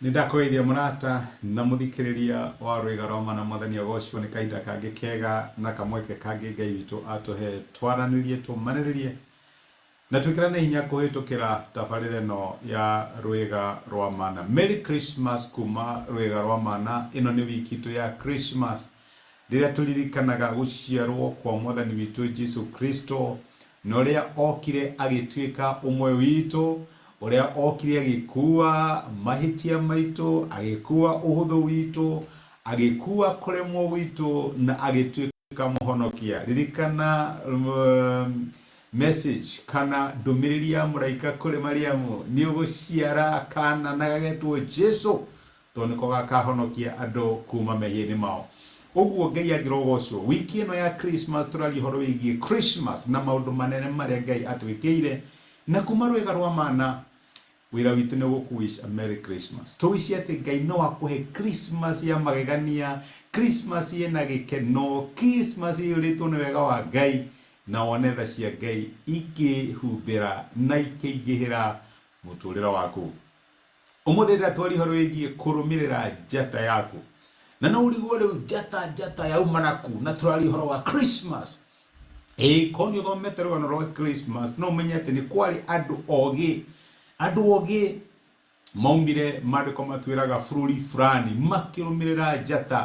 nindakũgeithia mũrata na mũthikĩrĩria wa rwĩga rwa mana mwathani agocwo nĩ kahinda kangĩ kega na kamweke kangĩ ngai witũ atũhe twaranĩrie tũmanĩrĩrie Na twĩkĩra nĩ hinya kũhĩtũkĩra tabarĩra ĩno ya Rwĩga rwa Mana. Merry Christmas kuma Rwĩga rwa Mana. Ĩno nĩ wiki itũ ya Christmas rĩrĩa tũririkanaga gũciarwo kwa Mwathani witũ Jesu Kristo na ũrĩa okire agĩtuĩka ũmwe witũ, ũrĩa okire agĩkua mahĩtia maitũ, agĩkua ũhũthũ witũ, agĩkua kũremwo gwitũ na agĩtuĩka ikamuhonokia ririkana um, message kana ndumiriri ya muraika kuri mariamu ni uguciara kana na gagetwo jesu to niko gakahonokia andu kuma mehieni mao uguo ngai angirogocwo wiki ino ya christmas turaria horo wigie christmas na maundu manene maria ngai atwikiire na kuma rwega rwa mana Wĩra witũ nĩ gũkũ wish a merry Christmas. To wish atĩ Ngai no akũhe Christmas ya magegania, Christmas ĩna gĩkeno, Christmas ĩiyũrĩtwo nĩ wega wa Ngai, na wone tha cia Ngai ikĩhumbĩra na ikĩingĩhĩra mũtũrĩre waku. Ũmũthĩ ndĩratwaria ũhoro wĩgiĩ kũrũmĩrĩra njata yaku. Na no ũrigwo rĩu njata njata yauma na kũ? Na tũraria ũhoro wa Christmas. Ĩĩ ko nĩ ũthomete rũgano rwa Christmas no ũmenye atĩ nĩ kwarĩ andũ ogĩ andũ ogĩ maumire maandĩko matwĩraga bũrũri fulani makĩrũmĩrĩra njata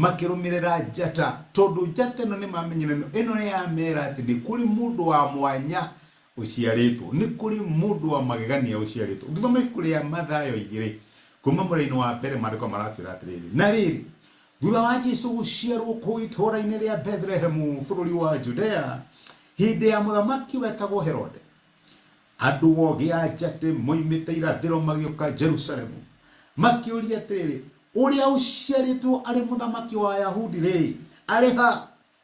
makĩrũmĩrĩra njata tondũ njata ĩno nĩ mamenyire ĩno ĩno nĩ yamera atĩ nĩ kũrĩ mũndũ wa mwanya ũciarĩtwo nĩ kũrĩ mũndũ wa magegania ũciarĩtwo ũngĩthoma ibuku rĩa mathayo igĩrĩ kuma mũraini wa mbere maandĩko maratwĩra atĩrĩrĩ na rĩrĩ Thutha wa Jesu gũciarwo kũu itũũra-inĩ rĩa Bethlehemu bũrũri wa Judea, hĩndĩ ya mũthamaki wetagwo Herode, andũ ogĩ a njatĩ moimĩte irathĩro magĩũka Jerusalemu, makĩũria atĩrĩrĩ, Ũrĩa ũciarĩtwo arĩ mũthamaki wa Ayahudi-rĩ, arĩ ha?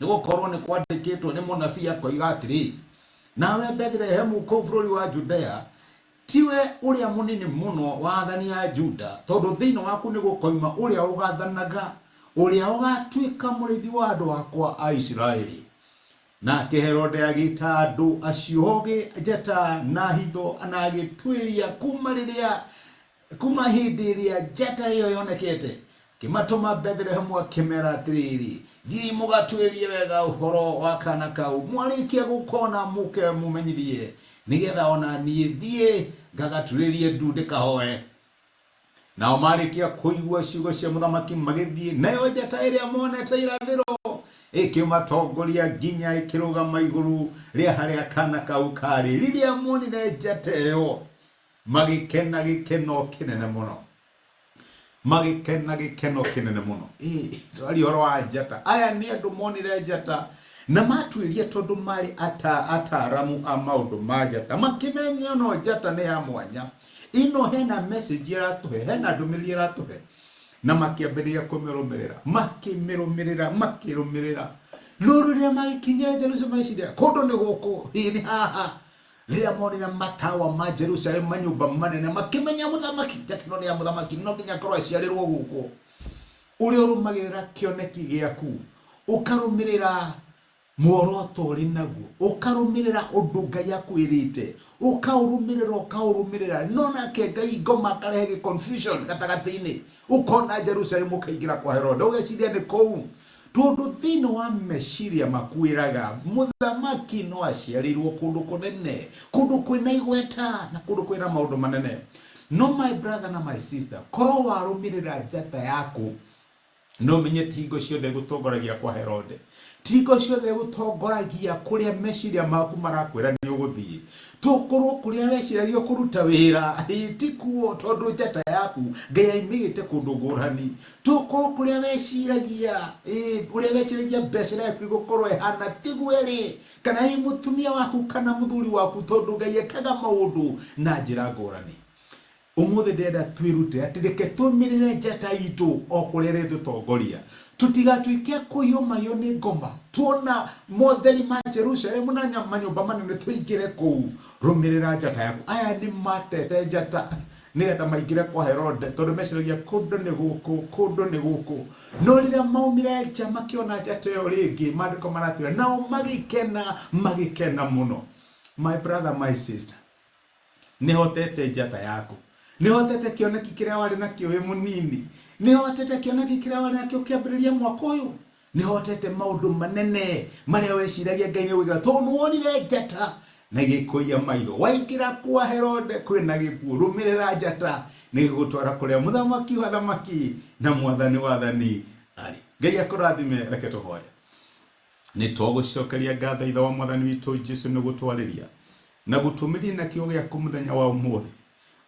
nĩ gũkorwo nĩ kwandĩkĩtwo nĩ mũnabii akoiga atĩrĩ nawe bethlehemu kũu bũrũri wa judea tiwe ũrĩa mũnini mũno wa athani a juda tondũ thĩinĩ waku nĩ gũkoima ũrĩa ũgathanaga ũrĩa ũgatuĩka mũrĩithi wa andũ akwa a isiraeli nake herode agĩta andũ acio ogĩ njata na hitho na agĩtuĩria kuma rĩrĩa Kuuma hĩndĩ ĩrĩa njata ĩyo yonekete, ngĩmatũma Bethilehemu akĩmeera atĩrĩrĩ, Thiĩi mũgatuĩrie wega ũhoro wa kaana kau, mwarĩkia gũkona mũũke mũmenyithie, nĩgeetha o na niĩ thiĩ ngagaturĩrie ndu ndĩkahooe. Nao maarĩkia kũigua ciugo cia mũthamaki magĩthiĩ, nayo njata ĩrĩa moonete irathĩro ĩkĩmatongoria nginya ĩkĩrũgama igũrũ rĩa harĩa kaana kau kaarĩ. Rĩrĩa moonire njata ĩyo, Magĩkena gĩkeno kĩnene mũno. Magĩkena gĩkeno kĩnene mũno. Ĩ, tũraria ũhoro wa njata. Aya nĩ andũ monire njata na matuĩria tondũ marĩ ata ataaramu a maũndũ ma njata. Makĩmenya ĩno njata nĩ ya mwanya. Ĩno hena message ĩratũhe, hena ndũmĩrĩri ĩratũhe. Na makĩambĩrĩria kũmĩrũmĩrĩra. Makĩmĩrũmĩrĩra, makĩrũmĩrĩra. No rĩrĩa magĩkinyire Jerusalemu magĩciria, kũndũ nĩ gũkũ, ĩ nĩ haha. rĩrĩa monire matawa ma jerusalemu manyũmba manene makĩmenya mũthamaki tekino nĩ ya mũthamaki no nginya akorwo aciarĩrwo gũkũ ũrĩa ũrũmagĩrĩra kĩoneki gĩaku ũkarũmĩrĩra muoroto ũrĩ naguo ũkarũmĩrĩra ũndũ ngai akwĩrĩte ũkaũrũmĩrĩra ũkaũrũmĩrĩra no nake ngai ngoma akarehe gĩ confusion gatagatĩ-inĩ ũkona jerusalemu ũkaingĩra kwa herode ũgeciria nĩ kũu tondũ thĩinĩ wa meciria makwĩraga mũthamaki no aciarĩirwo kũndũ kũnene kũndũ kwĩna igweta na kũndũ kwĩna maũndũ manene no my brother na my sister korwo warũmĩrĩra njata yaku no menye ti hingo ciothe gũtongoragia kwa herode ti hingo ciothe gũtongoragia kũrĩa meciria maku marakwĩra nĩ ũgũthiĩ tokorwo kũrĩa weciragia kũruta wĩra ĩ, ti kuo tondũ njata yaku ngai aimĩgĩte kũndũ ngũrani tũkũ kũrĩa weciragia ĩĩ, ũrĩa weciragia mbeca ĩrĩa yaku igũkorwo ĩhana tiguo ĩrĩ kana hihi mũtumia waku kana mũthuri waku tondũ ngai ekaga maũndũ na njĩra ngũrani ũmũthĩ ndĩrenda twĩrute atĩ reke tũmĩrĩre njata itũ o kũrĩa ĩrĩtũtongoria tũtigatuĩke a kũiyũmayũ nĩ ngoma tuona motheri ma jerusalemu na nya- manyũmba manene tũingĩre kũu rũmĩrĩra njata yaku aya nĩ matete njata nĩgetha maingĩre kwa Herode, tondũ meciragia kũndũ nĩ gũkũ, kũndũ nĩ gũkũ. No rĩrĩa maumire nja makĩona njata ĩyo rĩngĩ, maandĩko maratwĩra, nao magĩkena, magĩkena mũno. My brother, my sister, nĩhotete njata yaku, nĩhotete kĩoneki kĩrĩa warĩ nakĩo wĩ mũnini, nĩhotete kĩoneki kĩrĩa warĩ nakĩo kĩambĩrĩria mwaka ũyũ, Nĩhotete maũndũ manene marĩa weciragia Ngai nĩgwĩkĩra tondũ nĩwonire njata na igĩkũiya maitho. Waingĩra kwa Herode kwĩ na gĩkuũ, rũmĩrĩra njata nĩgĩgũtwara kũrĩa mũthamaki wa athamaki na mwathani wa athani arĩ. Ngai akũrathime, reke tũhoye. Nĩtũgũcokeria ngatho Ithe wa Mwathani witũ Jesu nĩgũtwarĩria na gũtũmĩria na kiugo gĩaku mũthenya wa ũmũthĩ.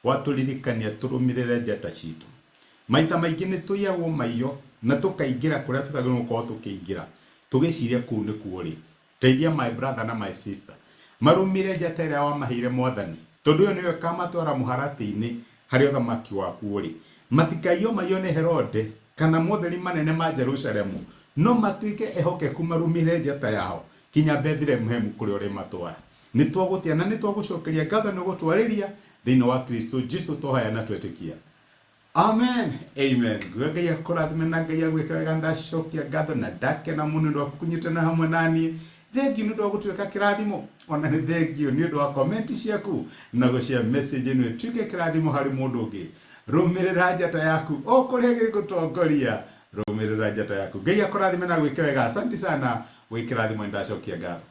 Watũririkania tũrũmĩrĩre njata citũ. Maita maingĩ nĩ tũiyagwo maiyo na tũkaingĩra kũrĩa tũtagĩrĩirwo gũkorwo tũkĩingĩra tũgĩciria kũu nĩkuo rĩ. Teithia my brother na my sister marũmĩrĩre njata ĩrĩa wamaheire Mwathani tondũ ĩyo nĩyo ĩkamatwara mũharatĩ-inĩ harĩa ũthamaki waku ũrĩ. Matikaiyo maiyo nĩ Herode kana motheri manene ma Jerusalemu no matuĩke ehokeku marũmĩrĩre njata yao kinya Bethilehemu kũrĩa ũrĩmatwara. Nĩ twagũtĩa na nĩ twagũcokeria ngatho nĩ gũtwarĩria thĩinĩ wa Kristo Jesu tũhaya na twetĩkia. Amen. Amen. Nguga Ngai akũrathime na Ngai agwĩke wega ndacokia ngatho na ndakena mũno nĩ ũndũ wa kũnyitana hamwe na niĩ. Thengiũ nĩ ũndũ wa gũtuĩka kĩrathimo. Ona nĩ thengiũ nĩ ũndũ wa komenti ciaku na gũcia message ĩno ĩtuĩke kĩrathimo harĩ mũndũ ũngĩ. Rũmĩrĩra njata yaku o kũrĩa gĩgũtongoria. Rũmĩrĩra njata yaku. Ngai akũrathime na agwĩke wega. Asanti sana wĩ kĩrathimo nĩ ndacokia ngatho.